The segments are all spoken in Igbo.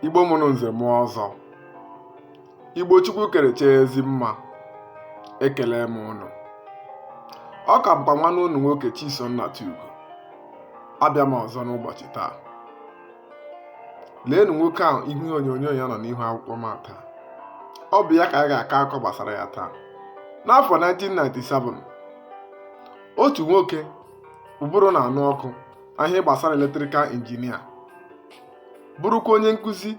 igbo mụrụ nze mụọ ọzọ igbo chukwu kerecha ezi mma ekele m ụnụ ọ ka bụkwa nwanne ụnụ nwoke Chisom Nnatugo abịa m ọzọ n'ụbọchị taa leenụ nwoke ahụ ihu onyonyo ya nọ n'ihu akwụkwọ m taa ọ bụ ya ka a ga-akọ akọ gbasara ya taa n'afọ 1997 otu nwoke ụbụrụ na-anụ ọkụ n'ihe gbasara eletrikal injinia bụrụkwa onye nkụzi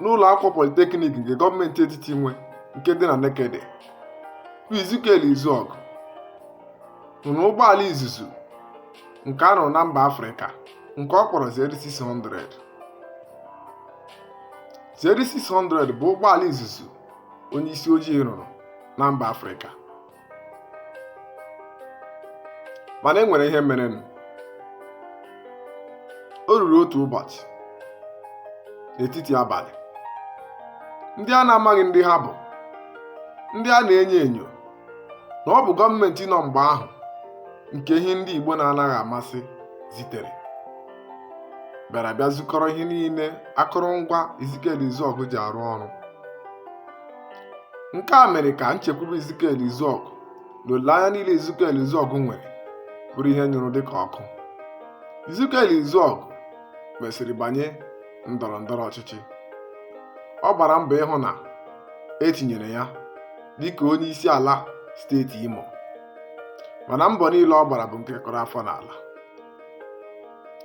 n'ụlọ akwụkwọ politeknik nke gọọmenti etiti nwe nke dị na Nekede bụ Ezekiel Izuọgụ rụrụ ụgbọala izuzu nke a rụrụ na mba Afrịka nke ọ kpọrọ Z600 Z600 bụ ụgbọala izuzu onye isi ojii rụrụ na mba Afrịka mana e nwere ihe merenụ o ruru otu ụbọchị n'etiti abalị ndị a na-amaghị ndị ha bụ ndị a na-enyo enyo na ọ bụ gọọmenti nọ mgbe ahụ nke ihe ndị Igbo na-anaghị amasị zitere bịara bịa zukọrọ ihe niile akụrụngwa Ezekiel Izuọgụ ji arụ ọrụ nke a mere ka nchekwube Ezekiel Izuọgụ na olileanya niile Ezekiel Izuọgụ nwere bụrụ ihe nyụrụ dị ka ọkụ Ezekiel Izuọgụ mesịrị banye ndọrọ ndọrọ ọchịchị ọ gbara mbọ ịhụ na e tinyere ya dịka onye isi ala steeti Imo mana mbọ niile ọ gbara bụ nke kụrụ afọ n'ala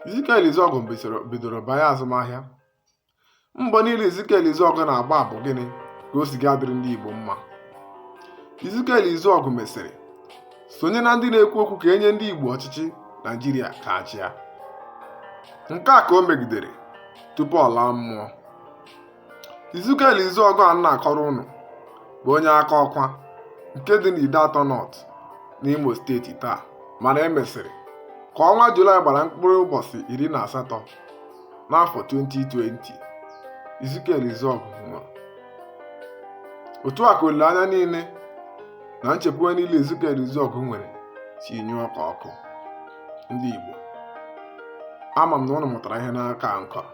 Ezekiel Izuọgụ bidoro banye azụmahịa mbọ niile Ezekiel Izuọgụ na-agba bụ gịnị ka o si ga-adịrị ndị Igbo mma Ezekiel Izuọgụ mesịrị sonye na ndị na-ekwu okwu ka e nye ndị Igbo ọchịchị Naijiria ka ha chịa nke a ka o megidere tupu ọ laa mmụọ Ezekiel Izuọgụ a na-akọrọ ụnụ bụ onye Akọkwa nke dị n'Ideatọ Nọt n'Imo steeti taa mana e mesịrị ka ọnwa Julaị gbara mkpụrụ ụbọchị iri na asatọ n'afọ 2020 Ezekiel Izuọgụ nwụrụ otu a ka olileanya niile na nchekwube niile Ezekiel Izuọgụ nwere si nyụọ ka ọkụ ndị Igbo ama m na ụnụ mụtara ihe n'akọ m kọrọ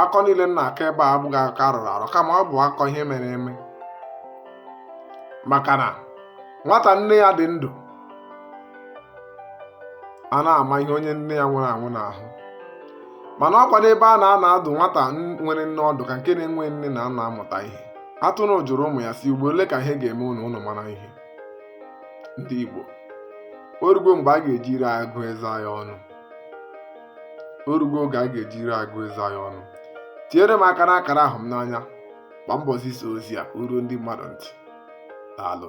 akọ niile m na-akọ ebe a abụghị akọ a rọrọ arọ kama ọ bụ akọ ihe mere eme maka na nwata nne ya dị ndụ a na-ama ihe onye nne ya nwụrụ anwụ n'ahụ mana ọkwa n'ebe a na-anọ adụ nwata nwere nne ọdụ ka nke na-enweghị nne na-anọ amụta ihe atụrụ jụrụ ụmụ ya sị ugbo ole ka ihe ga-eme unu unu mara ihe ndị Igbo orugo mgbe a ga-eji ire agụ eze anyị ọnụ orugo oge a ga-eji ire agụ eze anyị ọnụ tinyere m aka n'akara ahụ m n'anya gba mbọ zisa ozi a o ruo ndị mmadụ ntị daalụ